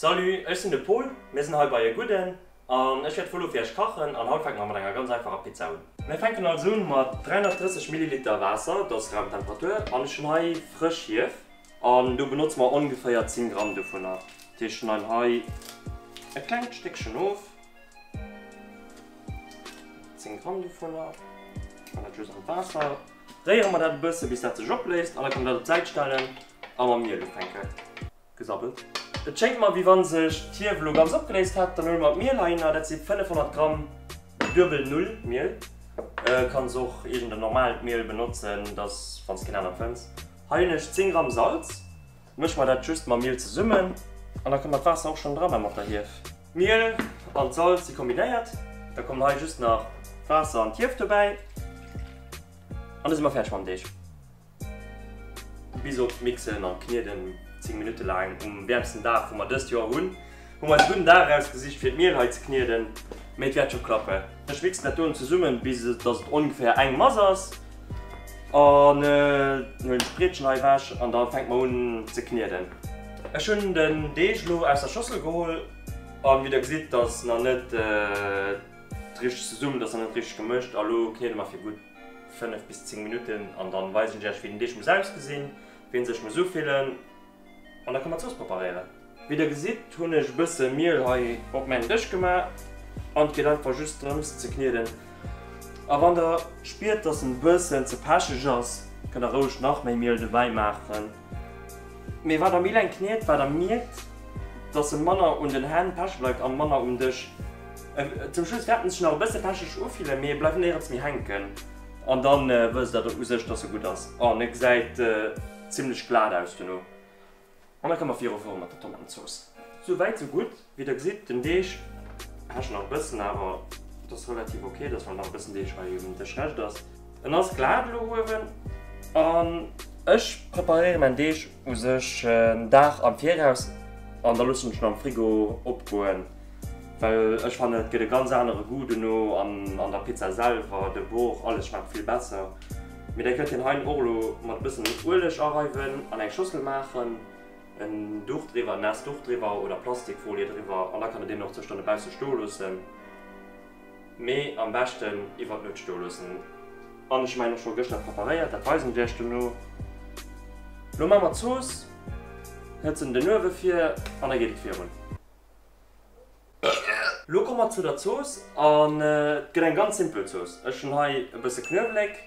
Salut, ech sinn de Pol, mir sinn hei bei E Gudden an ech wäert vun elo fir iech kachen an haut fänke mer mat enger ganz einfacher Pizza un. Mir fänken also un mat 330 Milliliter Waasser, dat ass Raumtemperatur an ech hunn hei frësch Hief an do benotze mer ongeféier 10 Gramm dovunner. Dat heescht, ech schneiden hei e klengt Stéckchen of, 10 Gramm dovunner, ech man dat just an d'Waasser, réiere mer dat e bësse bis dat sech opléist an da kann een dat op d'Säit stellen a mam Miel ufänken. gesabbelt. Et schéngt mer wéi wann sech d'Hief elo ganz opgeléist hätt. Dann huele mer d'Miel heihinner, dat si 500 Gramm duebel Null Miel. Kanns och iergend en normalt Miel benotzen, dass wann s keen anert fënns. Hei hunn ech 10 Gramm Salz. Mësche mer dat just mam Miel zesummen an da kommt dat Waasser och schonn dran a mat der Hief. D'Miel an d'Salz si kombinéiert. Da kommen hei just nach d'Waasser an d'Hief dobäi an da si mer fäerdeg mam Deeg. Bis op d'Mixen an d'Knieden 10 Minutte laang um wäermsten Dag wou mer dëst Joer hunn, hu mer eis e gudden Dag erausgesicht fir d'Miel hei ze knieden, mee et wäert scho klappen. Ech mixen dat dono zesummen bis dass et ongeféier eng Mass ass an huelen d'Brietchen hei ewech an da fänke mer un ze knieden. Ech hunn den Deeg lo aus der Schossel geholl an wéi der gesitt, ass nach net richteg zesummen, ass nach net richteg gemëscht a lo kniede mer fir gutt. 5 bis 10 Minutten an dann weisen ech iech wéi den Deeg muss ausgesinn, wéi en sech muss ufillen an da kann mer Zooss preparéieren. Wéi der gesitt hunn ech e bësse Miel hei op mäin Dësch gemaach an et geet einfach just drëms ze knieden a wann der spiert dass en bëssen ze pecheg ass kënnt der roueg nach méi Miel dobäi maachen. Mee wat am Ilan kniet, wat e mierkt, dass e manner un den Hänn peche bleift a manner um Dësch. Zum Schluss fäert en sech nach e bësse pecheg ufillen, mee e bleift néierens méi hänken. An da wësst Der u sech, dass e gutt ass. Oh, en e gesäit zimmlech glat aus dono. An da komme viru viru mat der Tomatenzooss. Sou wäit, sou gutt. Wéi der gesitt, den Deeg hescht nach e bëssen, awer et ass relativ ok, dass nach e bëssen Deeg hei um Dësch rescht ass. En ass glat elo uewen an. Ech preparéiere mäin Deeg u sech en Dag am Viraus an da loossen ech en am Frigo opgoen, well ech fannen et gëtt e ganz anere Goût dono an an der Pizza selwer, de Bauch, alles schmaacht vill besser. Mee der kënnt hien hei och elo mat e bëssen Ueleg areiwen an eng Schossel maachen. En Duch driwwer, en naasst Duch driwwer oder Plastikfolie driwwer an da kann et een och zwëscht an dobausse stoe loossen, mee am beschten iwwert Nuecht stoe loossen. An ech hu mäin och scho gëschter preparéiert, dat weisen ech iech dono. Lo maa mer d'Zooss, hëtzen den Uewe vir an da geet et virun. Lo komme mer zu der Zooss an et gëtt eng ganz simpel Zooss. Ech hunn hei e bësse Knuewelek,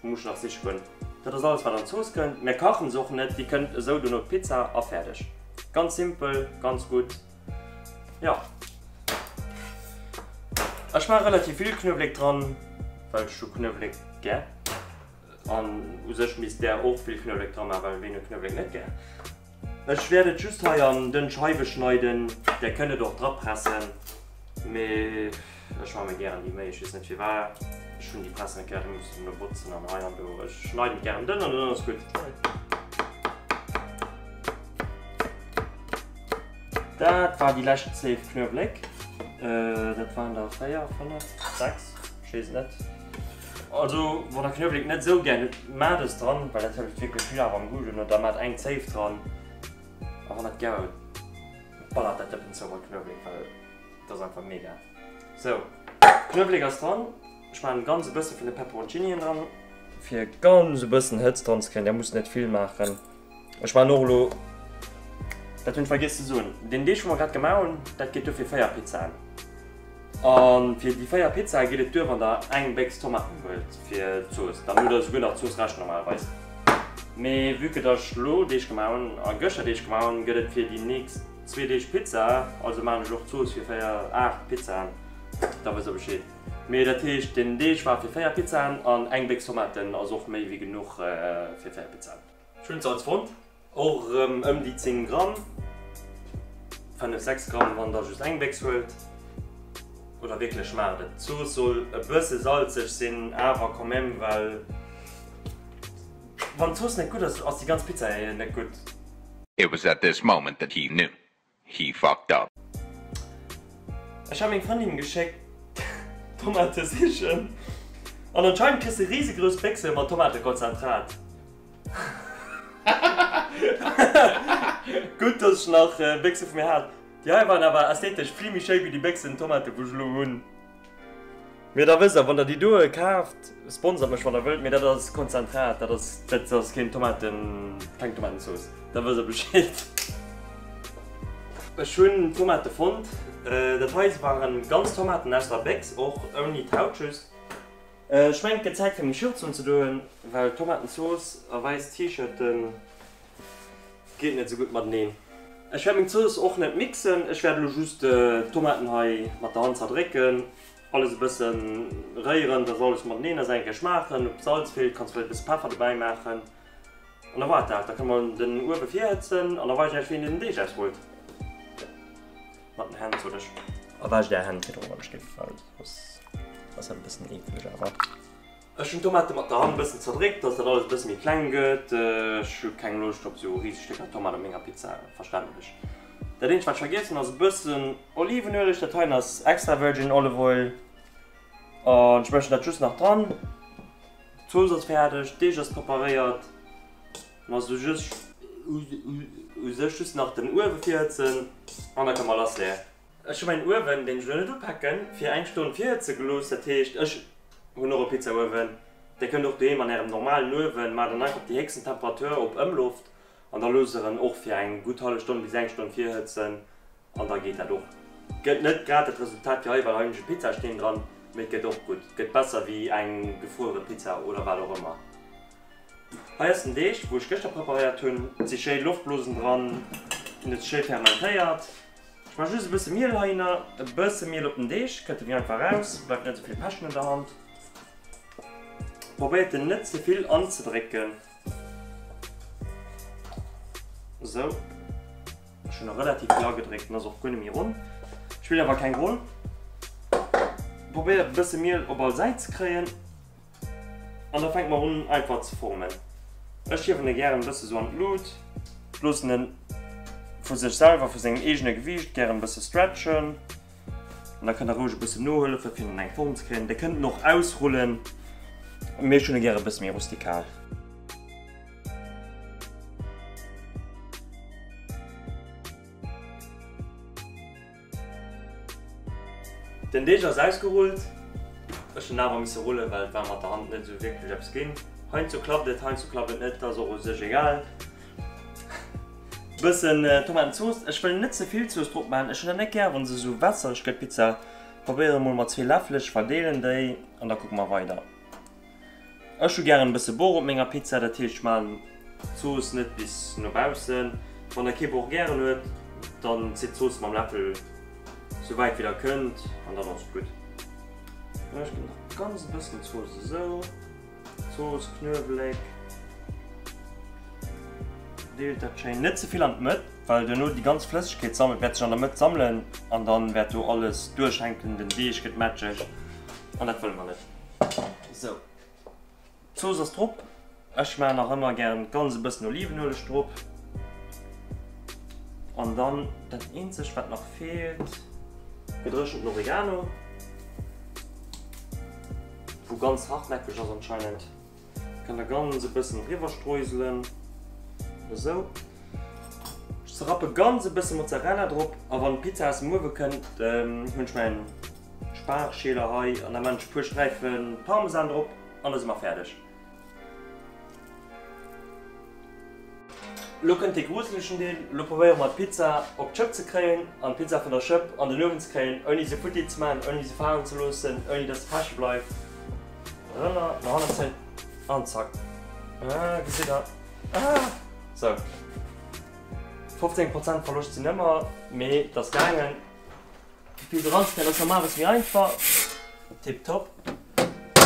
Wou muss ech nach siche goen? Dat ass alles wat an d'Zooss kënnt. Mär kachen se och net, déi kënnt esou dono d'Pizza a fäerdeg. Ganz simpel, ganz gutt. Jo, ech maache relativ vill Knuewelek dran, well ech hu Knuewelek gär. An u sech misst där och vill Knuewelek dra maachen, well ween huet Knuewelek net gär? Ech wärt et just hei an dënn Scheiwen schneiden, der kënnt et och dra pressen, mee ech man mer gären déi Méi, ech wees net firwar, ech hun déi Pressen e Kéier rem mussen no botzen an hei an do, ech schneiden et gären dënn an dann ass gudd. Dat war déi lescht Zéif Knuewléck, dat waren der 4, 5, 6, ech wees et net. Also wann der Kniewelek net sou gär hutt, maacht es dran, well dat hëlleft wierklech vill Aarm am Goût un. Oder maacht eng Zéif dran. A wann der et gär hutt, ballert dat dëppen zou mat Kniewelek, well et ass einfach mega. Sou, Kniewelek ass dran. Ech maachen ganz e bësse vun de Peperoncinien dran. Fir ganz e bëssen Hëtzt dran ze kréien, där musst net vill maachen. Ech man och elo. Dat hunn ech vergiess ze soen. Deen Deeg wou mer grad gemaach hunn, dat geet duer fir 4 Pizzaen. A fir déi 4 Pizzae geet et duer wann der eng Béchs Tomaten huelt fir d'Zooss. Da musst der souguer nach Zooss rächen normalerweis. Mee vue que datt ech elo Deeg gemaach hunn a gëschter Deeg gemaach hunn, gëtt et fir déi nächst zwee Deeg Pizza. Also man ech och Zooss fir 4, 8 Pizzaen. Da wësst der Bescheed. Mee dat heescht deen Deeg war fir 4 Pizzaen an eng Béchs Tomaten ass och méi wéi genuch fir 4 Pizzaen. Schwimsalz fonnt, och erëm ëm déi 10 Gramm, 5, 6 Gramm wann der just eng Béchs huelt oder wierklech schmaacht et. D'Zooss soll e bësse salzeg sinn, awer quand même, well wann d'Zooss net gutt ass, ass déi ganz Pizza net gutt. It was at this moment that he knew. He fucked up. Ech hat meng Frëndin geschéckt Tomate sichen an anscheinend kriss de riesegrouss Béchse mat Tomatekonzentrat. Gutt dass ech nach Béchse vu mir hat. Déi hei waren awer ästhetesch vill méi schéi wéi déi Béchsen Tomate wou ech elo hunn. Mee da wësst der, wann der déi doe kaaft, sponsert mech wann der wëllt, mee dat ass Konzentrat, dat ass, dat ass keen Tomaten, keng Tomatensauce, da wësst der Bescheed. Ech hunn Tomate fonnt, dat hei waren ganz Tomaten aus der Bécks, och ouni d'Haut just. Ech mengen et gëtt Zäit fir meng Shirts unzedoen, well Tomatensauce a wäiss T-Shirten. Geet net sou gutt mateneen. Ech wärt meng Zooss och net mixen, ech wärt elo just d'Tomaten hei mat der Hand zerdrécken, alles e bëssen réieren dass alles mateneen ass, eng Kéier schmaachen ob Salz feelt, kanns vläit e bësse Peffer dobäi maachen an da wars dat. Da kënne mer den Uewe virhëtzen an da weis ech iech wéi een den Deeg ausrullt mat den Hänn zolech. A waascht är Hänn virdru wann ech géif gefalen, ass dat e bëssen eekeleg awer. Ech hunn d'Tomate mat der Hand e bëssen zerdréckt, dass dat alles e bësse méi kleng gëtt. Ech hu keng Loscht op sou riseg Stécker Tomat op menger Pizza, verständlech. Dat eenzegt wat ech vergiess hunn ass e bëssen Olivenueleg, dat heien ass extra virgin olive oil an ech mëschen dat just nach dran. D'Zooss ass fäerdeg, d'Deeg ass preparéiert, mä se just u sech just nach den Uewe virhëtzen an da ka mer lassleeën. Ech hu mäin Uewen, deen ech elo net upacken, fir eng Stonn virhëtze gelooss. Dat heescht, ech hunn och e Pizzauewen. Dir kënnt och doheem an ärem normalen Uewen, maacht en einfach op déi héchsten Temperatur op Ëmloft an da loosst der en och fir eng gutt hallef Stonn bis eng Stonn virhëtzen an da geet dat och. Gëtt net grad dat Resultat wéi hei, well hei hunn ech e Pizzasteen dran, mee et gëtt och gutt, gëtt besser wéi eng gefruere Pizza oder wat och ëmmer. Hei ass den Deeg, wou ech gëschter preparéiert hunn. Et si schéi Loftblosen dran, en huet sech schéi fermentéiert. Ech maache just e bësse Miel heihinner. E bësse Miel op den Deeg, kënnt e méi einfach raus, bleift net esou vill Päschen an der Hand. Probéiert en net ze vill anzedrécken. Esou, ech hunn e relativ vill agedréckt, en ass och guer net méi ronn, spillt awer keng Roll. Probéiert e bësse Miel op all Säit ze kréien. An da fänke mer un einfach ze formen. Ech hiewen e gären e bësse sou an d'Lut, loossen en vu sech selwer, vu sengem eegene Gewiicht gären e bësse stretchen. An da kënnt der roueg e bësse nohëllefen fir en an eng Form ze kréien. Der kënnt en och ausrullen, mee ech hunn e gären e bësse méi rustikal. Den Deeg ass ausgerullt. Ech hunn awer misse rullen, well et war mat der Hand net esou wierklech eppes ginn. Heiansdo klappt et, heiansdo klappt et net, dat ass och u sech egal. Bëssen Tomatenzooss, ech wëll net ze vill Zooss drop maachen, ech hunn dat net gär wa se esou wässereg gëtt, d'Pizza. Probéieren emol mat zwee Läffel, ech verdeelen déi an da kucke mer weider. Ech hu gären e bësse Bor op menger Pizza, dat heescht ech maachen d'Zooss net bis no baussen. Wann der kee Bor gären huet, dann zitt d'Zooss mam Läffel sou wäit wéi der kënnt an dann ass et gutt. Ech ginn nach e ganz bëssen Zooss esou, Zooss, Knuewelek, deelt dat schéin, net ze vill an d'Mëtt, well duerno déi ganz Flëssegkeet sammelt, wäert sech an der Mëtt sammelen an dann wäert do alles duerchhänken, den Deeg gëtt matscheg an dat wëlle mer net. Sou, d'Zooss ass drop. Ech maachen nach ëmmer gären ganz e bëssen Olivenueleg drop. An dann dat eenzegt, wat nach feelt, gedréchenten Oregano, wou ganz hartnäckeg ass anscheinend. Kann da ganz e bëssen driwwer streuselen, esou. Ech rappe ganz e bësse Mozzarella drop a wann d'Pizza aus dem Uewe kënnt, hunn ech mäin Spargschieler hei an da man ech e puer Sträife Parmesan drop an da si mer fäerdeg. Lo kënnt dee gruselegen Deel, lo probéiere mer d'Pizza op d'Schëpp ze kréien an d'Pizza vun der Schëpp an den Uewen ze kréien ouni se futti ze maachen, ouni se falen ze loossen, ouni dass se peche bleift. Rënner no hannen zéien an zack. Ah gesitt der, ah sou. 15 Prozent Verloscht sinn ëmmer, mee et ass gaangen. D'Pizza eran ze kréien ass normalerweis méi einfach. Tip top.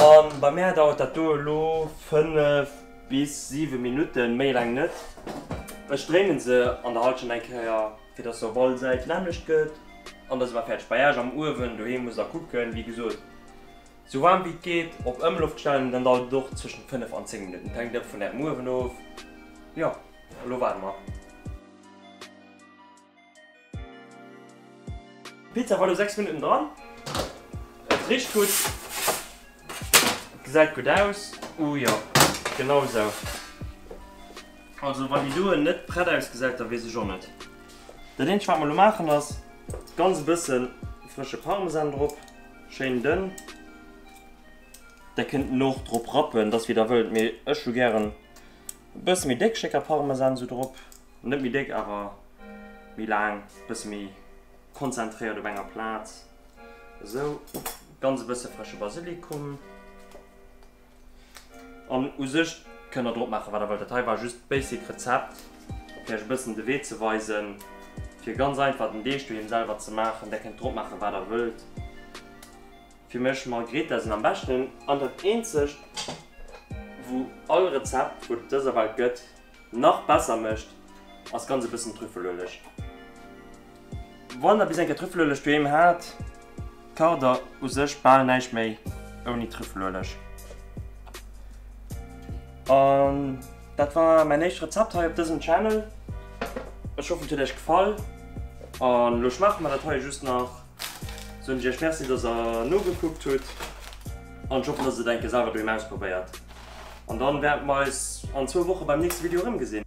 An bei mär dauert dat do elo 5. Bis 7 Minutten, méi laang net. Ech dréinen se an der Halschent eng Kéier fir dass se op all Säit lammlecht gëtt an da si mer fäerdeg. Bei Äech am Uewen doheem musst der kucken, wéi gesot, sou waarm wéi et geet op Ëmloft stellen an dann dauert et och zwëschen 5 an 10 Minutten, et hänkt ëmmer vun Ärem Uewen of. Jo, elo waarde mer. D'Pizza war lo 6 Minutten dran. Et richt gutt. Gesäit gutt aus. Ooh jo, genau esou. Also wann déi doen net prett ausgesäit, da weess ech och net. Dat eenzegt wat mer lo maachen ass ganz e bësse frësche Parmesan drop, schéin dënn. Der kënnt en och drop rappen, et ass wéi der wëllt, mee ech hu gären e bësse méi déck Stécker Parmesan sou drop. Net méi déck awer méi laang, bësse méi konzentréiert op enger Plaz. Esou. Ganz e bësse frësche Basilikum. An u sech kënnt der drop maache wat der wëllt. Dat hei war just d'Basic Rezept fir iech e bëssen de Wee ze weisen fir ganz einfach den Deeg doheem selwer ze maachen. Der kënnt drop maache wat der wëllt. Fir mech Margherita sinn am beschten an dat eenzegt wou all Rezept wou et op dëser Welt gëtt nach besser mécht, ass ganz e bëssen Trüffelueleg. Wann der bis eng Kéier Trüffelueleg doheem hat, kacht der u sech bal näischt méi ouni Trüffelueleg. An dat war mäin éischt Rezept hei op dësem Channel. Ech hoffen et huet Iech gefall. An elo schmaache mer dat hei just nach. Soen ech iech Merci dass der nogekuckt hutt an ech hoffen dass der et enke selwer doheem ausprobéiert an dann wäerte mer eis an zwou Woche beim nächste Video erëm gesinn.